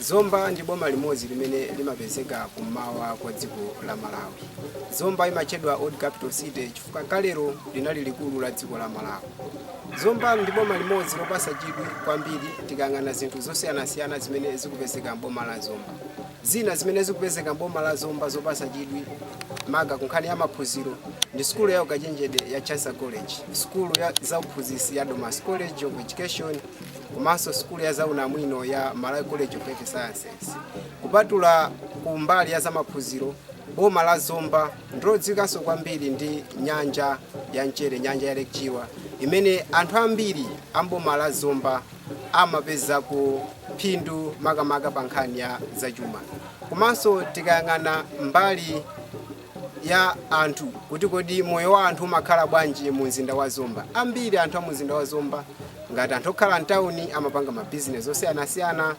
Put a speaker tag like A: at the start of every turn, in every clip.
A: zomba ndi boma limodzi limene limapezeka kummawa kwa dziko la malawi zomba imatchedwa old capital city chifukwa kalero linali likulu la dziko la malawi zomba ndi boma limodzi lopasa chidwi kwambiri tikayang'ana zinthu zosiyanasiyana zimene zikupezeka mboma la zomba Zina zimene zikupezeka m'boma la Zomba zopatsa chidwi maka ku nkhani ya maphunziro ndi sukulu ya ukachenjede ya Chancellor College, sukulu ya zauphunzitsi ya Domasi College of Education komanso sukulu ya zaunamwino ya Malawi College of Health Sciences. Kupatula ku mbali ya zamaphunziro, boma la Zomba ndilodziwikanso kwambiri ndi nyanja ya mchere, nyanja ya Lake Chilwa imene anthu ambiri a m'boma la Zomba amapezako phindu makamaka pa nkhani ya zachuma komanso tikayang'ana mbali ya anthu kuti kodi moyo wa anthu umakhala bwanji mu mzinda wa zomba ambiri anthu a mu mzinda wa zomba ngati anthu okhala mtawuni amapanga mabizinesi osiyanasiyana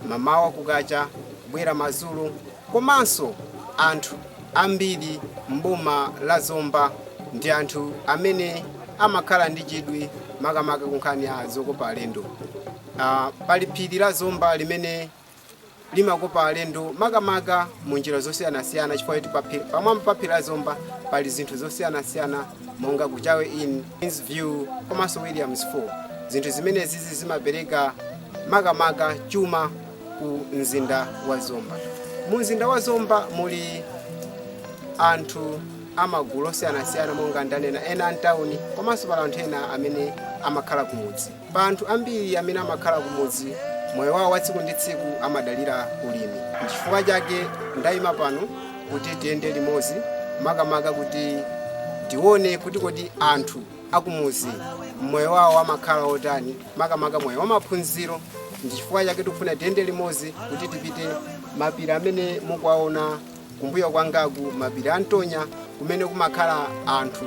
A: mamawa kukacha bwera madzulo Komanso anthu ambiri m'boma la Zomba ndi anthu amene amakhala ndi chidwi makamaka ku nkhani ya zokopa alendo. Pali phiri la Zomba limene limakopa alendo makamaka mu njira zosiyanasiyana chifukwa choti pamwamba pa phiri la Zomba pali zinthu zosiyanasiyana monga Kuchawe Inn, Queens View komanso Williams Falls. Zinthu zimenezizi zimapereka makamaka chuma. ku mzinda wa zomba mu mzinda wa zomba muli anthu amagulu osiyanasiyana monga ndanena ena amtawuni komanso pali anthu ena amene amakhala kumudzi pa anthu ambiri amene amakhala kumudzi moyo wawo wa tsiku ndi tsiku amadalira ulimi chifukwa chake ndayima pano kuti tiyende limodzi makamaka kuti tione kuti kodi anthu akumudzi moyo wawo amakhala otani makamaka moyo wamaphunziro ndi chifukwa chake tikufuna tiyende limodzi kuti tipite mapiri amene mukuwaona kumbuyo kwangaku mapiri a ntonya kumene kumakhala anthu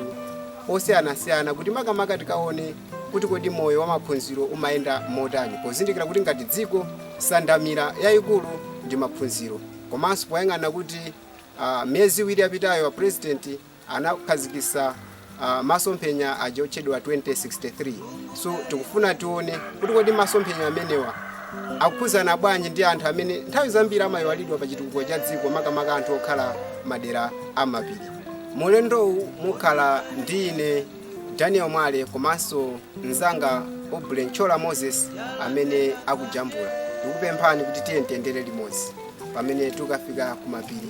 A: osiyanasiyana kuti makamaka tikaone kuti kodi moyo wamaphunziro umayenda motani pozindikira kuti ngati dziko sandamira yayikulu ndi maphunziro komanso poyang'ana kuti ah, miyezi iwiri yapitayo a president anakhazikisa uh, masomphenya aja otchedwa 2063 so tikufuna tione kuti kodi masomphenya amenewa akukhudzana bwanji ndi anthu amene nthawi zambiri amayiwalidwa pa chitukuko cha dziko makamaka anthu okhala madera amapiri mulendowu mukhala ndi ine daniel mwale komanso mzanga aubrey nchola moses amene akujambula ndikupemphani kuti tiyendere limodzi pamene tikafika kumapiri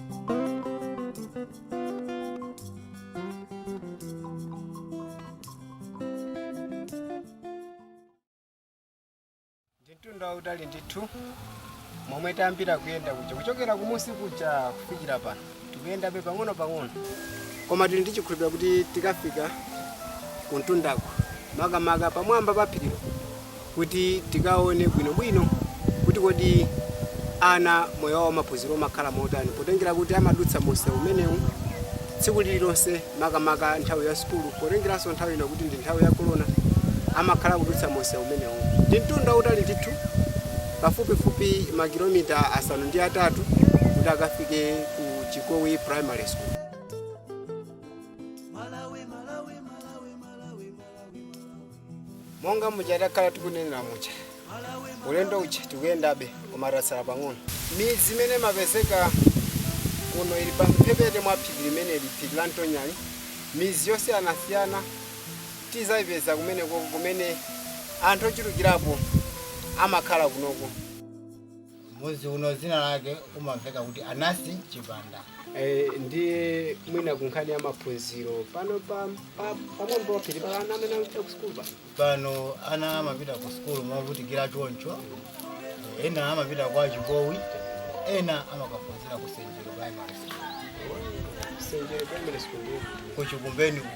A: mtunda wautali ndithu momwe tayambira kuyenda kuja kuchokera kumunsi kuja kufikira pano tikuyendabe pang'ono pang'ono koma tili ndi chikhulupiriro kuti tikafika kumtundako makamaka pamwamba pa phirilo kuti tikaone bwinobwino kuti kodi ana moyo wawo wamaphunziro umakhala motani potengera kuti amadutsa mumsewu umenewu tsiku lililonse makamaka nthawi ya sukulu potengeranso nthawi ino kuti ndi nthawi ya korona amakhala akudutsa mumsewu umenewu ndi mtunda wautali ndithu pafupifupi makilomita asanu ndi atatu kuti akafike ku chikowi primary school monga muja takhala tikunenera muja ulendo uja tikuyendabe koma tasala pang'ono midzi imene imapezeka kuno ili pa mphepete mwa phiri limeneli phiri la ntonya midzi yosiyanasiyana tidzayipeza kumeneko kumene anthu ochulukirapo amakhala kunoko
B: Mudzi uno dzina lake umamveka kuti Anasi Chipanda. Eh,
A: ndiye mwina kunkhani ya maphunziro pano pa pa- pamwamba pa phiri pano ana amene akupita ku sukulu pano Pano
B: ana amapita ku sukulu movutikira choncho, ena amapita kwa Chikowi, ena amakaphunzira ku Senjero Primary School. senjero primary
A: school ndiye ku Chikumbeni
B: uko.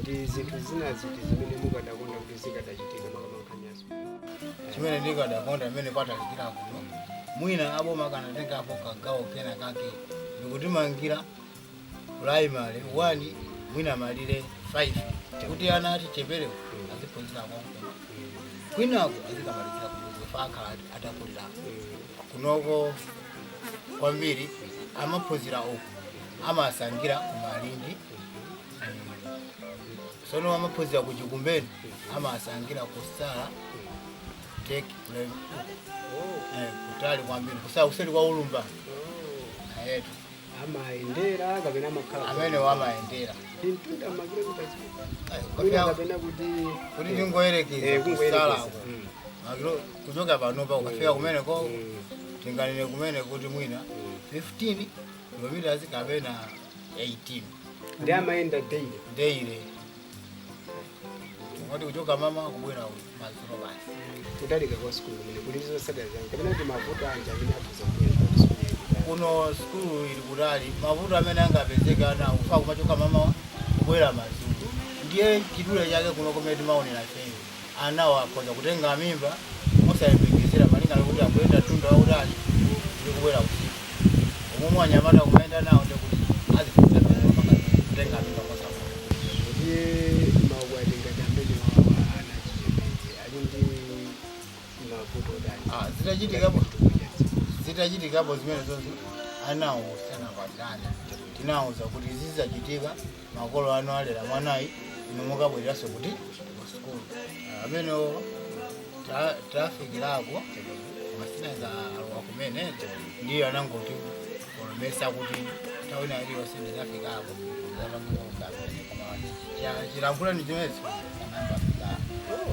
A: ndi zinthu zina ziti zimene mukadakonda kuti zikadachitika makamaka nkhani ya sukulu
B: chimene ndikadakonda mmene patalikira kuno mwina aboma akanatengapo kagawo kena kake ndikutimangira primary 1 mwina malire 5 kuti ana ocheperawo aziphunzira konkuno kwinako azikamalizira kufa akhala atakulira kunoko kwambiri amaphunzira uku amasangira kumalindi sono amaphunzira ku chikumbeni amasangira kusala take play eh, kutali kwambiri kusala kuseri kwa ulumba ayetu amayendera
A: kapena amakhala amene
B: wamayendera ndi
A: mtunda makilomita Ayi, kuti
B: kapena kapena kuti kuti eh, tingoyerekeza eh, kungoyerekeza. kusalako Mm. Makilo- kuchoka panopa ukafika kumeneko Mm. tinganene kumene kuti mwina 15 kilometers kapena 18
A: ndiye amayenda daily
B: daily moti kuchoka m'mawa kubwera madzulo basi kutalika kwa sikulu
A: kumene kuli zotsatira zanji kapena kuti mavuto anji amene akhoza kubwera
B: pa sikulu ili kutali? kuno sikulu ili kutali mavuto amene angapezeke ana kufa kumachoka m'mawa kubwera madzulo ndiye chidule chake kuno kumene timaonera cheni anawo akhoza kutenga mimba mosayembekezera malinga nkuti akuyenda mtunda wautali ndi kubwera usiku. umomwe anyamata kumayenda nawo ndiye kuti azipeza mimba kupanga zimenezi, kutenga mimba mosavuta. Ndiye maukwati ngati amenewa ana achichepere ali ndi
A: mavuto otani Ah, zitachitikapo ngati chitukuko cha dzikozi?
B: zitachitikapo zimenezozo anawo asanakwatirane tinawuza kuti zizachitika makolo anu alera mwanayi inu mukabwereranso kuti ku sukulu amenewo ta- tafikirako masana eza alowa kumene ndiyo anangoti olo mesa kuti nthawi ina iliyonse ndidzafikako chilankhulani chimezi anambafikako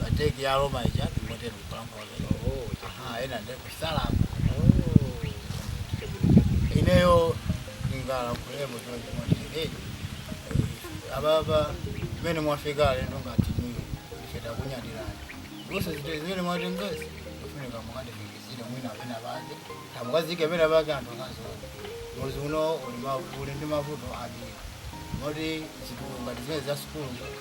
B: bateki ya Roma ija ndingotero kulankhula lero. Oh, Aha, chabwino. ena ndiye kuchisalamu. Oh, chabwino, chabwino. Ineyo ndingalankhulemo choncho moti hey, ababa mmene mwafika alendo ngati inuyo ife takunyadirani zonse zite zimene mwatengezi kufunika mukatifikitsire mwina pena pake tumikizike pena pake anthu akadziona mudzi uno uli ma- uli ndi mavuto ambiri moti zinthu ngati zimene za sukulu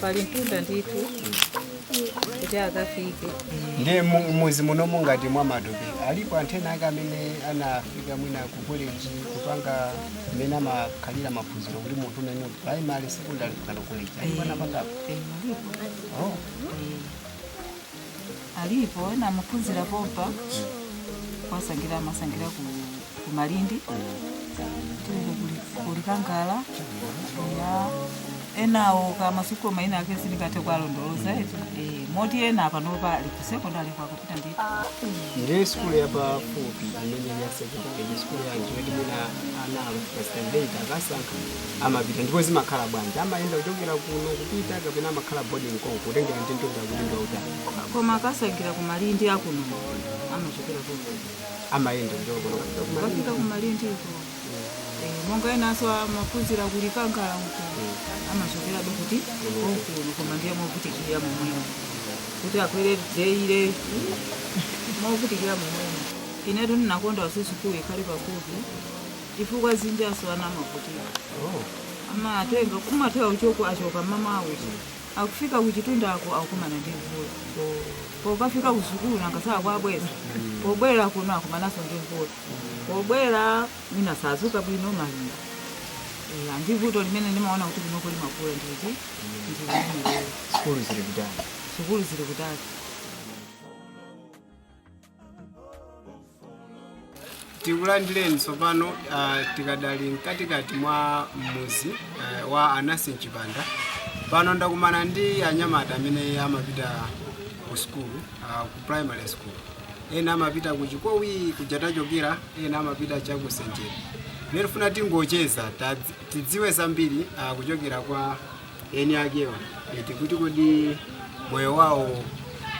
A: pali
C: mtunda ndithu kuti akafike ndiye mu-
A: mudzi muno monga ngati mwa Matope alipo anthu ena ake amene anafika mwina ku college kupanga amene amakhalira maphunziro kuti munthu unene primary secondary kukanena college alipo anapangapo Oh.
C: alipo ena amaphunzira pompa kuwasankhira amasankhira ku, ku Malindi tilile kuli- ku Likangala ya enawo kaya masukulu maina ake sindingathe kuwalondoloza eti Eh, moti ena panopa ali ku sekondari kwa Kapita ndithu ndiye
A: sukulu yapafupi imene ya secondary ndi sukulu yanji yoti mwina ana akafika standard akasankha amapita ndipo zimakhala bwanji amayenda kuchokera kuno kupita kapena amakhala boarding konko kutengera ndi mtunda kuti ndi wautali koma akasankhira
C: ku Malindi akuno amachokera ku amayenda
A: kuchoka kuno kupita ku Malindi. akafika ku Malindi
C: uko Eh, monga enanso amaphunzira ku Likangala uko amachokera ndithu konkuno koma ndiye movutikira momwemo kuti akwere jeire movutikira momwemo inetu ndinakonda kuti sukulu ikhale pafupi chifukwa chinanso ana amavutika amatenga kumathera kuchoka achoka mmamawa uja akufika kuchitundako akukumana ndi mvula pokafika kusukulu nanga sakwabwera pobwera kuno akumananso ndi mvula pobwera mwina sadzuka bwino malinga Eh, ndi vuto limene ndimaona kuti kunoko limakula ndithu ndi limenelo sukulu
A: zili kutali sukulu zili
C: kutali
A: tikulandireni tsopano uh, tikadali mkatikati mwa mudzi uh, wa anasi mchipanda pano ndakumana ndi anyamata amene amapita ku sukulu uh, ku primary school ena amapita ku chikowi kuja tachokera ena amapita cha ku senjeri nde tifuna tingocheza tadzi- tidziwe zambiri uh, kuchokera kwa eni akewa eti kuti kodi moyo wawo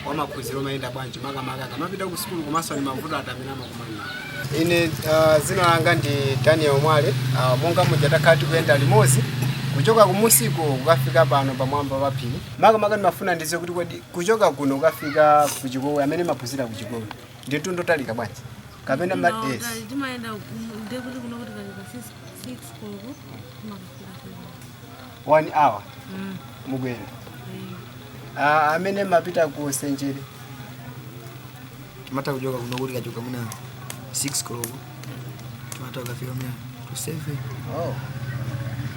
A: wa maphunziro umayenda bwanji makamaka akamapita ku sukulu komanso ni mavuto ati amene amakumana nawo ine uh, dzina langa ndi daniel mwale uh, monga muja takhala tikuyenda limodzi kuchoka kumusiko kukafika pano pamwamba pa phiri makamaka ndimafuna ndidziwe kuti kodi kuchoka kuno kukafika ku chikowi amene maphunzira ku chikowi ndi mtunda wotalika bwanji kapena ma yes. timayenda
D: ndekuti kuno tikanyamuka 6 koloko timakafika one hour
A: Mm. mugwera Ah, amene mapita ku
E: senjeri timatha kuchoka kuno tikachoka mwina 6 koloko timatha kukafika mwina to 7 oh.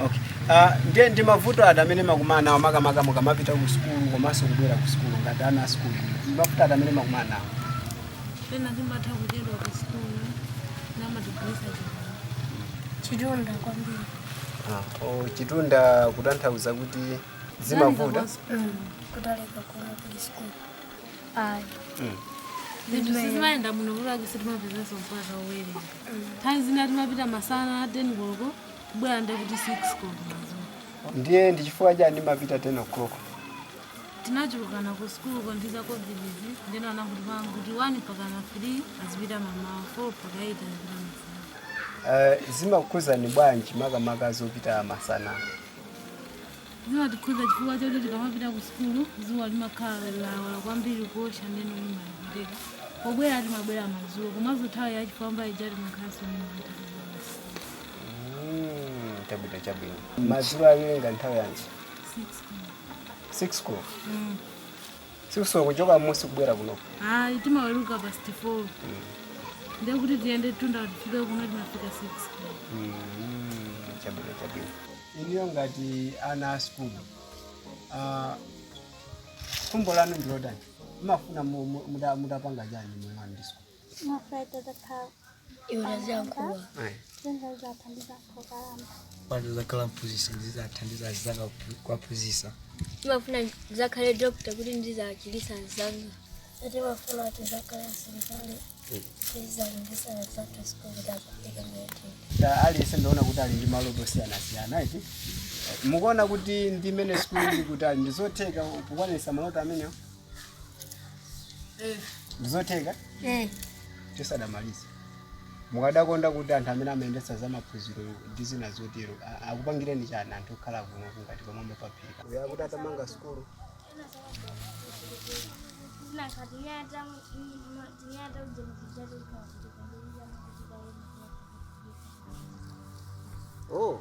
E: okay.
A: Ah, ndiye ndi mavuto ati amene makumana nawo makamaka mukamapita ku sukulu komanso kubwera ku sukulu ngati ana a sukulu ndi mavuto ati amene makumana nawo pena
D: timatha kuchedwa ku sikulu timatibulitsa
F: chitunda kwambiri Oh,
A: chitunda kutanthauza kuti
F: zimavuta kutalika kuno kuli sikulu ayi
D: zinthu sizimayenda muno kuti akise timapezaso mvula pobwera nthawi zina timapita masana 10 koloko kubwera nde kuti 6 koloko madzulo ndiye ndi
A: chifukwa chani mapita 10
D: o'clock tinachulukana ku sikulu ko ndi za covid izi ndeno anatipanga kuti 1 mpakana 3 azipita mamawa 4 mpaka 8 azipita masana Eh,
A: zimakukhudzani bwanji makamaka zopita masana zimatikhuza
D: chifukwa choti tikamapita ku sukulu zuwa limakhala lawala kwambiri kuotcha ndeno timavutika pobwera timabwera madzulo komanso nthawi ya chifwamba ija timakhalanso ndi mantha Mm,
A: chabwino chabwino madzulo muweruka nthawi yanji 6 koloko 6 yo kuchoka mmusi kubwera kuno ayi
D: timaweruka past 4 ndiye kuti tiyende mtunda tifike kuno timafika 6 Mm, chabwino
A: chabwino inuyo ngati ana a sukulu ah, khumbo lanu ndilotani mumafuna mu- mu- muta- mutapanga chani mmoyo wanu ndi sukulu
F: Ndimafuna
E: ndizakhale doctor kuti ndizachilise anzanga. Ndimafuna kuti
G: ndizakhale nzanga. Ndizachilisa nzanga
F: siku ndakupika mwete. Aliyense ndaona
A: kuti ali ndi maloto osiyanasiyana eti. Mukuona kuti ndi mmene sukulu ili kutali ndizotheka kukwanilisa maloto amenewo? ndizotheka Eh, tisadamalize mukadakonda kuti anthu amene amayendetsa za maphunziro ndi zina zotero a- akupangireni chani anthu okhala kuno kungati pamwamba paphiri kuno kuti atamanga sukulu oh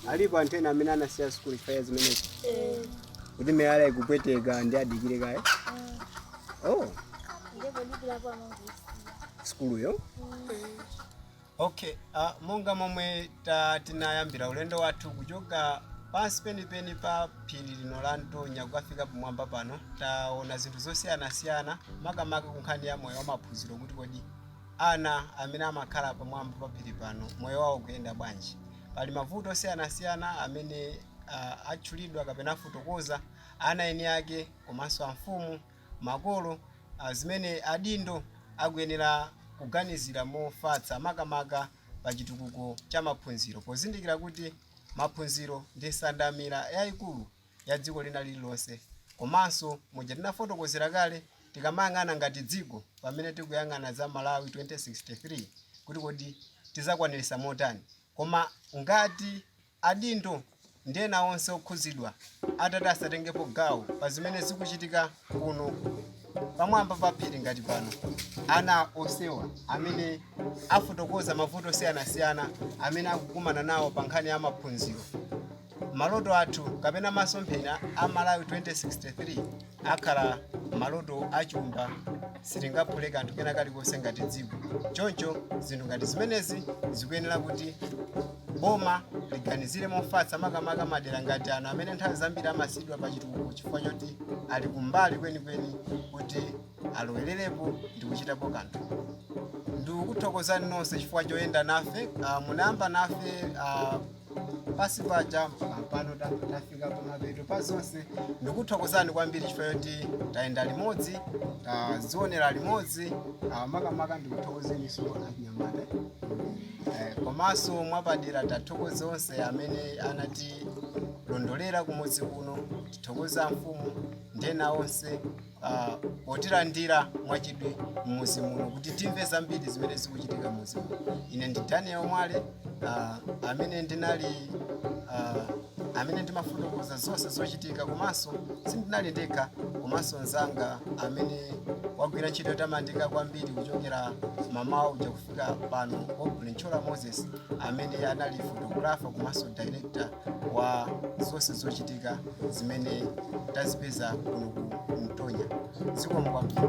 A: alipo anthu ena amene anasiya sukulu chifukwa cha zimenezi kuti miyala ikupweteka ndi adikire kaye oh ndipo dikilapo amangisi sukuluyo okay uh, monga momwe ta- tinayambira ulendo wathu kuchoka pansi penipeni pa phiri lino la ntonya kukafika pamwamba pano taona zinthu zosiyanasiyana makamaka kunkhani ya moyo wamaphunziro kuti kodi ana amene amakhala pamwamba pa phiri pano moyo wawo kuyenda bwanji Pali mavuto osiyanasiyana amene a, atchulidwa kapena afotokoza ana eni ake komanso amfumu, makolo, a, zimene adindo akuyenera kuganizira mofatsa makamaka pa chitukuko cha maphunziro pozindikira kuti maphunziro ndi nsandamira yaikulu ya dziko lina lililonse. Komanso muja tinafotokozera kale, tikamayang'ana ngati dziko pamene tikuyang'ana za Malawi 2063 kuti kodi tizakwaniritsa motani. Koma ngati adindo ndi ena onse okhuzidwa atati asatengepo gawo pa zimene zikuchitika kuno pamwamba pa phiri ngati pano, ana onsewa amene afotokoza mavuto osiyanasiyana amene akukumana nawo pa nkhani ya maphunziro. maloto athu kapena masomphenya a malawi 2063 akhala maloto achumba sitingaphule kanthu kena kalikonse ngati dziko choncho zinthu ngati zimenezi zikuyenera kuti boma liganizire mofatsa makamaka madera ngati ano amene nthawi zambiri amasiyidwa pa chitukuko chifukwa choti ali kumbali kwenikweni kuti alowererepo ndi kuchitapo kanthu ndikuthokozani nonse chifukwa choyenda nafe uh, munayamba nafe uh, pansi paja pampano ta- tafika pamapeto pa zonse ndikuthokozani kwambiri chifukwa choti tayenda limodzi tazionera limodzi ah, makamaka ndikuthokozeninso anyamata Eh, komanso mwapadera tithokoze onse amene anatilondolera kumudzi kuno tithokoze amfumu ndi ena onse ah, potilandira mwachidwi mmuzi muno kuti timve zambiri zimene zikuchitika mmuzi muno ine ndi daniel mwale ah, amene ndinali ah, amene ndimafotokoza zonse zochitika komanso sindinali ndekha komanso mzanga amene wagwira ntchito yotamandika kwambiri kuchokera mamawa uja kufika pano Aubrey Ntchola moses amene anali photographer komanso director wa zonse zochitika zimene tazipeza kuno ku mtonya zikomo kwambiri